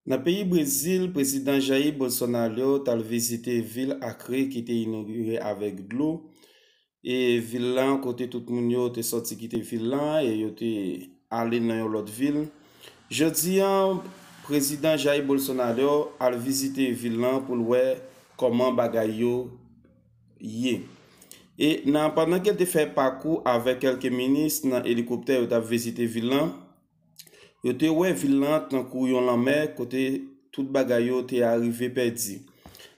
Nan peyi Brezil, Prezidan Jair Bolsonaro t al vizite vil Acre ki te inogire avèk dlo, e vil lan kote tout moun yo te sòti kite vil lan e yo te ale nan yon lòt vil. Jodi a, Prezidan Jair Bolsonaro al vizite vil lan pou l wè kòman bagay yo ye. E nan pandan ke l te fè pakou avèk kèlke minis nan elikoptè yo t ap vizite vil lan, Yo te wè vil lan tankou yon lanmè kote tout bagay yo te arive pèdi.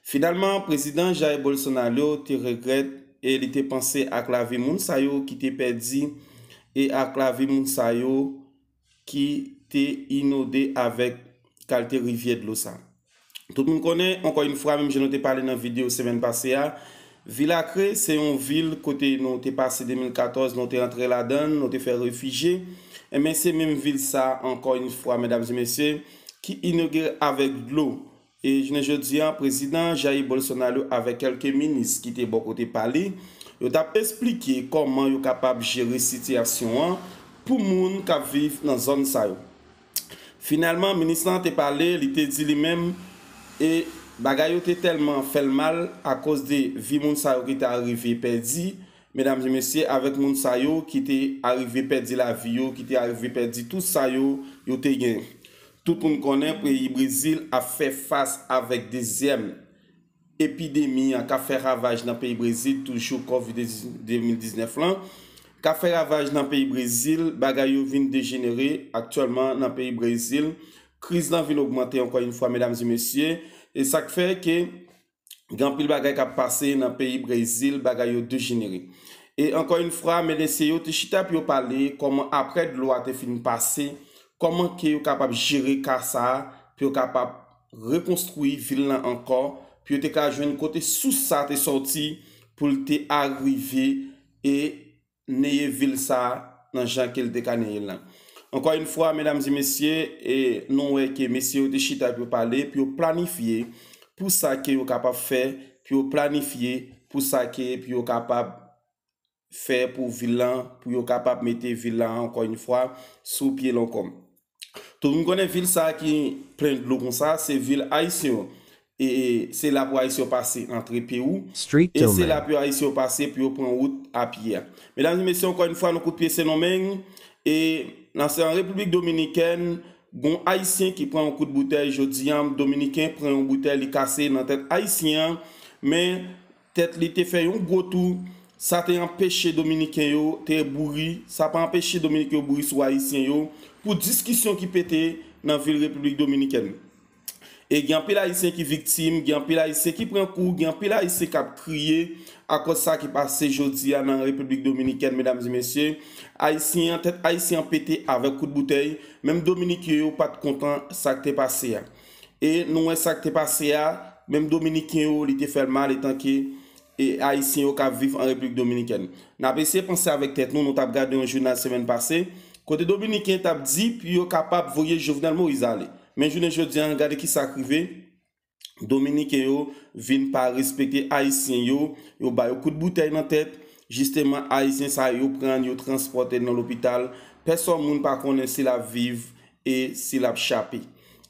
Finalman, Prezidan Jair Bolsonaro te regrèt e li te panse ak lavi moun sa yo ki te pèdi e ak lavi moun sa yo ki te inode avèk kalte rivyè dlo sa. Tout moun konnen, ankò yn fwa menm jan nou te pale nan video semèn pase a, vil Acre se yon vil kote nou te pase 2014 nou te antre ladann, nou te fè refije, enben se menm vil sa a ankò yn fwa medam e mesye ki inogire avèk dlo e jounen jodi a prezidan Jair Bolsonaro avèk kèlke minis ki te bò kote pa li yo t ap esplike kòman yo kapab jere sitiyasyon an pou moun k ap viv nan zòn sa yo. Finalman, minis lan te pale, li te di li menm e bagay yo te tèlman fè l mal akoz de vi moun sa yo ki te arive pèdi, medam e mesye, avèk moun sa yo ki te arive pèdi lavi yo, ki te arive pèdi tout sa yo, yo te gen. Tout moun konnen peyi Brezil ap fè fas avèk dezyèm Epidemi an kap fè ravaj nan peyi Brezil toujou covid 2019 lan kap fè ravaj nan peyi Brezil bagay yo vin dejenere aktyèlman nan peyi Brezil kriz lan vin ogmante ankò yn fwa medam e mesye e sak fè ke gen anpil bagay kap pase nan peyi Brezil bagay yo dejenere e ankò yn fwa medesye yo te chita pou yo pale kòman aprè dlo a te fin pase kòman ke yo kapab jere ka sa pou yo kapab rekonstwi vil lan ankò pou yo te ka jwenn kote sous sa te sòti pou l te arive e neye vil sa nan jan ke l te ka neye l lan. Ankò yn fwa medam e mesye e nou wè ke mesye yo te chita pou yo pale pou yo planifye pou sa ke yo kapab fè pou yo planifye pou sa ke pou yo kapab fè pou vil lan pou yo kapab mete vil la ankò yn fwa sou pye l ankò. Tout moun konnen vil sa ki plen dlo konsa se vil ayisyen yo e se la pou ayisyen yo pase antre Perou e se la pou ayisyen yo pase pou yo pran wout a pye a. Medam e mesye ankò yn fwa nou kout pye Sendomeng e nan se an Repiblik Dominikèn gon ayisyen ki pran yon kout boutèy jodi an Dominiken pran yon boutèy li kase nan tèt ayisyen an men Tèt li te fè yon gwo tou, sa te anpeche Dominiken yo te bouri, sa pa anpeche Dominiken yo bouri sou Ayisyen yo, pou diskisyon ki pete nan vil Repiblik Dominikèn. E gen anpil Ayisyen ki viktim, gen anpil Ayisyen ki pran kou, gen anpil Ayisyen k ap kriye akòz sa ki pase jodi a nan Repiblik Dominikèn, medam e mesye. Ayisyen an, tèt Ayisyen an pete avèk kout boutèy, menm Dominiken yo pa t kontan sa k te pase a. E nou wè sa k te pase a, menm Dominiken yo li te fè l mal etanke Ayisyen yo k ap viv an Repiblik Dominikèn. N ap eseye panse avèk tèt nou, nou t ap gade yon jounal semèn pase, kote Dominiken t ap di pou yo kapab voye Jovenel Moïse ale. Men jounen jodi a, gade ki sa k rive, Dominiken yo vin pa respekte Ayisyen yo, yo ba yo kout boutèy nan tèt, jisteman Ayisyen sa yo yo pran yo transpòte l nan lopital, pèsòn moun pa konnen si l ap viv e si l ap chape.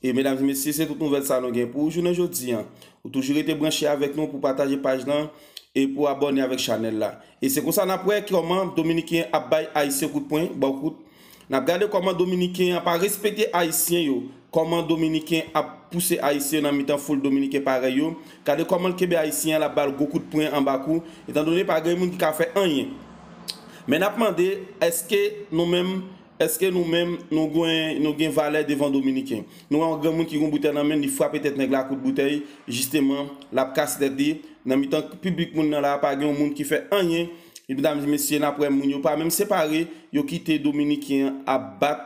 E medam e mesye se tout nouvèl sa nou gen pou ou jounen jodi an. Ou toujou rete branche avèk nou pou pataje paj lan e pou abòne avèk chanèl la. E se konsa n ap wè kòman dominiken ap bay ayisyen kout pwen, ba w kout. N ap gade kòman dominiken an pa respekte ayisyen yo, kòman dominiken ap pouse ayisyen nan mitan foul dominiken parèy yo, gade kòman l kenbe ayisyen an l ap ba l gwo kout pwen anba kou etandone pa gen moun ki ka fè anyen. Men n ap mande èske nou menm Eske nou menm nou gen valè devan dominiken? Nou wè yon granmoun ki gen yon boutèy nan menl li frape tèt nèg la a kout boutèy jisteman lap kase tèt li nan mitan piblik moun nan la a pa gen yon moun ki fè anyen medam e mesye nap wè moun yo pa menm separe yo kite dominiken an ap bat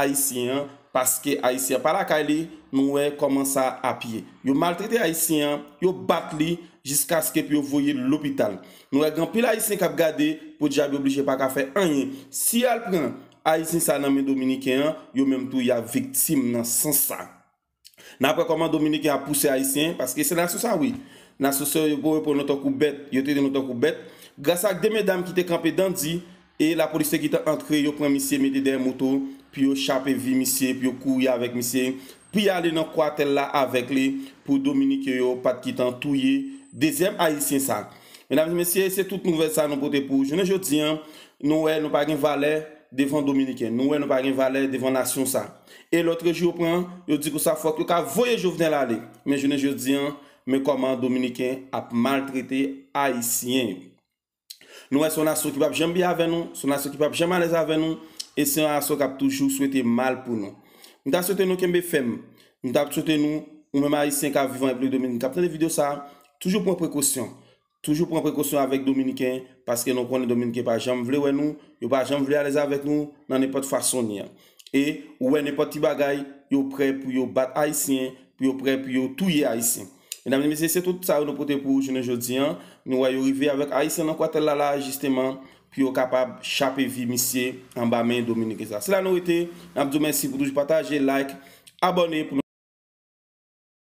ayisyen an paske ayisyen an pa lakay li nou wè kòman sa ap ye yo maltrete ayisyen an yo bat li jiskaske pou yo voye l lopital. Nou wè gen anpil ayisyen kap gade podyab yo blije paka fè anyen si yal pran ayisyen sa nan men dominiken an yo menm tou yap viktim nan sans sa nap wè kòman dominiken ap pouse ayisyen paske se nasyon sa wi nasyon sa yo pran nou tankou bèt yo trete nou tankou bèt gras ak de medam kite kanpe dandi E lapolis te gentan antre yo pran misye mete dèyè moto pou yo chape vi misye pou yo kouri avèk misye pou y ale nan kwatèl la avèk li pou dominiken yo pat kitan touye dezyèm ayisyen sa. Medam e mesye se tout nouvèl sa nou pote pou jounen jodi an nou wè nou pa gen valè devan dominiken nou wè nou pa gen valè devan nasyon sa e lotrejou yo pran yo di konsa fòk yo ka voye jovenel ale men jounen jodi an men kòman dominiken ap maltrete ayisyen yo. Nou wè se yon nasyon ki pap janm byen avè nou, se yon nasyon ki pap janm alèz avè nou, e se yon nasyon kap toujou swete mal pou nou. M ta swete nou kenbe fèm, m ta swete nou, ou menm ayisyen kap viv an Repiblik Dominikani kap tande video sa, toujou pran prekosyon, toujou pran prekosyon avèk dominiken, paske nou konnen dominiken pa janm vle wè nou, yo pa janm vle alèz avèk nou nan nenpòt fason li an. e ou wè nenpòt ti bagay yo prè pou yo bat ayisyen pou yo prè pou yo touye ayisyen medam e mesye se tout sa yo nou pote pou ou jounen jodi an nou wè yo rive avèk ayisyen nan kwatèl la la jisteman pou yo kapab chape vi misye anba men dominiken sa se la nou rete nap di w mèsi pou toujou pataje like abòne pou nou.